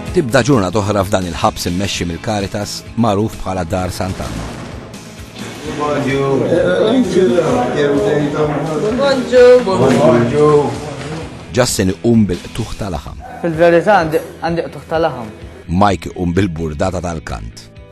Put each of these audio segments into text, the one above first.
Tibda ġurnat oħra f'dan il-ħabs immexxi mill-Caritas magħruf bħala Dar Sant'Anna. Justin iqum bil-qtuħ tal-aħam. Fil-verità għandi qtuħ tal-aħam. Mike iqum bil-burdata tal-kant.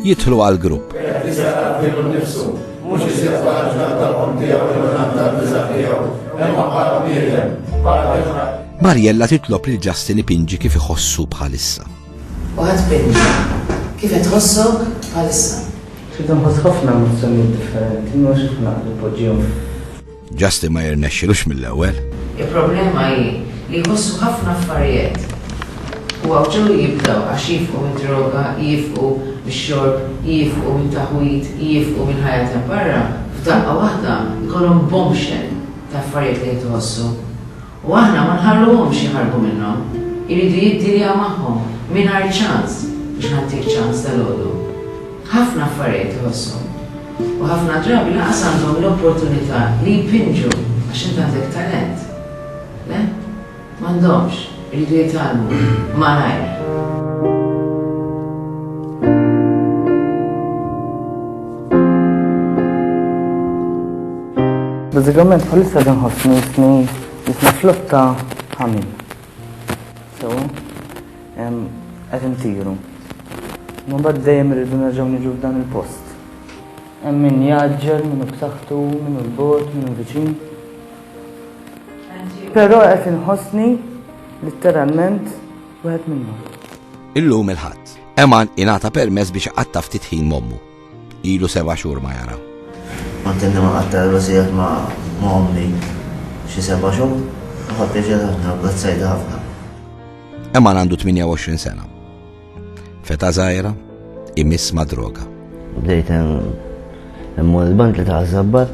Jidħlu għal grupp. Mux jisir faħġna tal-qom tijaw, il-għan tal-bizar tijaw, emma bħala bniedem, bħala Marjella titlob li Justin ipinġi kif iħossu bħalissa. U ħa tbinni. Kif qed tħossok bħalissa? Qed inħoss ħafna emozzjonijiet differenti, mhux kif naqbel inpoġġihom f'. Justin ma jirnexxilux mill-ewwel. Il-problema hi li jħossu ħafna affarijet. U hawn ġew jibdew għax jiefqu mid-droga, jiefqu mix-xorb, jiefqu mit-taħwid, jiefqu mill-ħajja ta' barra, f'daqqa waħda jkollhom bombshell ta' affarijiet li qed iħossu. U aħna ma nħalluhomx jaħarbu minnhom, iridu jiddiljaw magħhom mingħajr ċans biex nagħtik ċans dalgħodu. Ħafna affarijiet iħosshom. U ħafna drabi lanqas għandhom l-opportunità li jpinġu għax int għandek talent. Le, m'għandhomx, iridu jitgħallmu malajr. Bazzikament bħalissa dan ħossni jisni jisni flotta ħamin. So, qed intiru. Ma bad dejjem irridu nerġgħu niġu f'dan il-post. Hemm min jaġġel, min b'saħħtu, min l-bot, min viċin. Però qed inħossni litteralment wieħed minnhom. Illum il-ħadd, Eman ingħata permess biex iqatta' ftit ħin mommu. Ilu seba' xhur ma jara. Għantenni ma qatta l-wasijat ma' ommi xi seba' xhur, u ħa pjaċir ħafna, għazzajda ħafna. Eman għandu 28 sena. Feta zaħira, imiss ma' droga. Bdejt immur il-bank li ta' zabbar,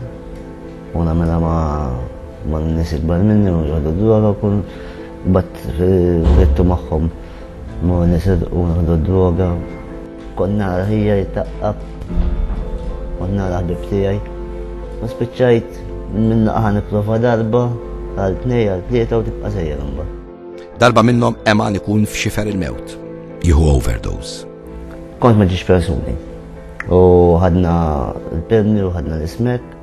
u namela ma' ma' n-nis ikbar minni, u ġoddu droga, kun bat frittu maħħom, ma' n-nis u ġoddu droga. Kont nara ħija jittaqqab, kont nara ħbib tiegħi. U spiċċajt minn naqa' nipprova darba għal tnej għal tlieta u tibqa' sejjer imbagħad. Darba minnhom Eman ikun f'xifer il-mewt, jieħu overdose. Kont ma ġiex persuni. U ħadna l-perni u ħadna l-ismek.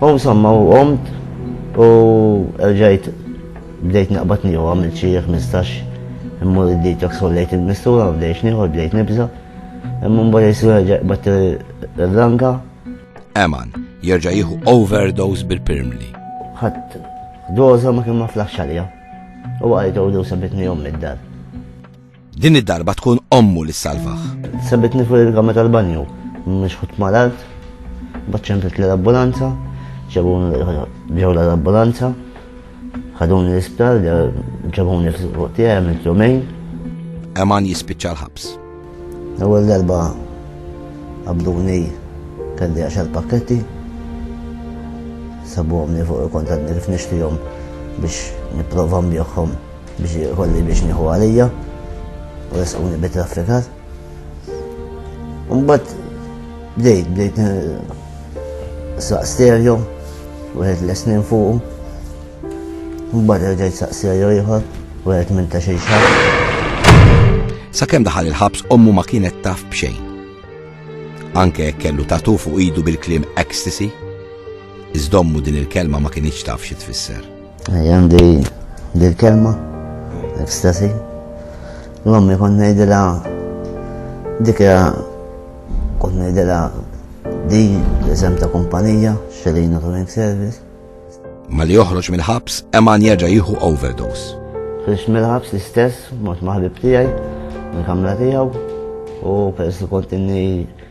U insomma, u qomt u rġajt bdejt naqbad nieħu għamil xi 15 immur id-detox sollejt il-mistura u bdejx nieħu bdejt nibża. Imma mbagħad jisir rġajt bat l-langa. Eman, jerġa' jieħu overdose bil-pirmli. Ħadd doża ma kien ma flaħx għalija. U għajtu u sabitni jom mid-dar. Din id-darba tkun ommu li ssalvah. Sebitni fuq il-kamra tal-banju, mixħut mal-art, bat ċemplet li l-ambulanza, ġabuni ġew l-ambulanza, ħaduni l-isptar, ġabuni fuq tiegħi għamilt jumejn. Eman jispiċċa l-ħabs. L-ewwel darba qabduni kelli għaxar pakketti, sabuhomni fuq il-kontadni kif nixtihom biex nipprova nbieħhom. Biex ikolli biex nieħu għalija u resquni bi traffikat. Umbat bdejt, bdejt saq stereo, wieħed l-esnin fuq. Umbat bdejt saq stereo ieħor, wieħed minn ta' xejn xahar. Sakemm daħal il-ħabs ommu ma kienet taf b'xejn. Anke kellu tatu fuq idu bil-klim ecstasy, iżdommu din il-kelma ma kienx taf xi tfisser. Għandi dil kelma, ekstasi. L-ommi kon nejdila dikja kon nejdila di l-isem ta' kumpanija, xelina ta' service. Ma li joħroġ mill-ħabs, Eman jerġa' jieħu overdose. Ħriġ mill-ħabs l-istess, mhux maħbib tiegħi, mill-kamra tiegħu, u peress li kontinni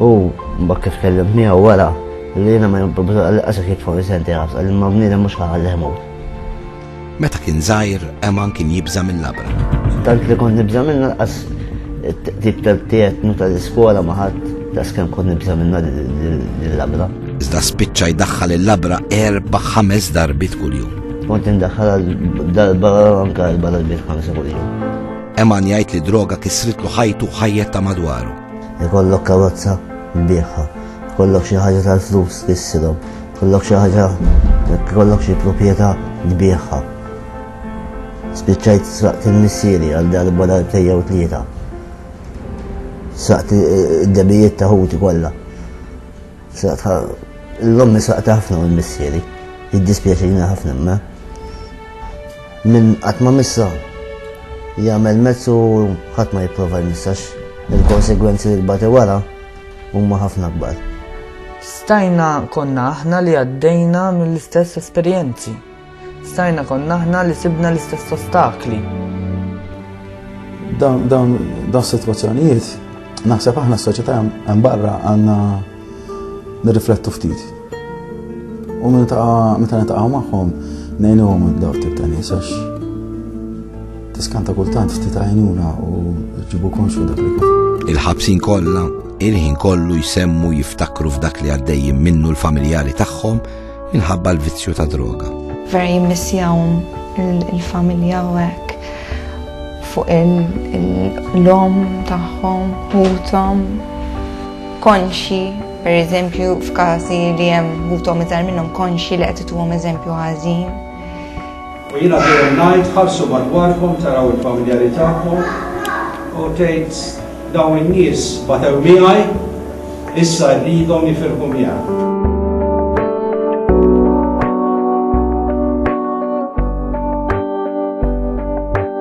U mbagħad kif tkellimt miegħu wara li jiena ma jibda li qasek jitfgħu senti ħafna li ma bniedem mhux ħalli ħmut. Meta kien żgħir, Eman kien jibża' mill-labra. Tant li kont nibża' minna qas tip tal-tiegħek nu tal-iskola ma ħadd tas kemm kont nibża' minna l-labra. Iżda spiċċa jdaħħal il-labra erba' ħames darbit kuljum. Kont indaħħal darba anke erba' darbit ħamsa kuljum. Eman jgħid li droga kisritlu ħajtu ħajjet ta' madwaru. Ikollok karozza bieħa, ikollok xi ħaġa tal-flus issilhom, ikollok xi ħaġa ikollok xi proprjetà tbieħha. Spiċċajt sraqt il-missieri għal darba darbtej jew tlieta. Sraqt id-debijiet ta' ħuti kollha. Sraqt l-ommi sraqt ħafna mill-missieri. Jiddispjaċini ħafna ma. Min qatt ma missa, jagħmel mezz u ħadd ma jipprova jmissa għax il-konsegwenzi li tbati wara huma ħafna akbar. Stajna konna aħna li għaddejna mill-istess esperjenzi. Stajna konna aħna li sibna l-istess ostakli. Dawn dawn dawn sitwazzjonijiet naħseb aħna s-soċjetà hemm barra għandna Nirriflettu ftit. U meta nitaqgħu magħhom ngħinuhom daw tip ta' nies għax tiskanta kultant ftit għajnuna u ġibu konxu dak li Il-ħabsin kollha il-ħin kollu jsemmu jiftakru f'dak li għaddejjin minnu l-familjari tagħhom minħabba l-vizzju ta' droga. Veri missjawm il-familja u hekk fuq il-lom tagħhom, ħutom, konxji, pereżempju f'każi li hemm ħuthom iżgħar minnhom konxji li qed ituhom eżempju ħażin. U jiena dejjem ngħid ħarsu madwarkom taraw il-familjari tagħkom u tgħid dawn in-nies batew miegħi issa rridhom jifirħu miegħi.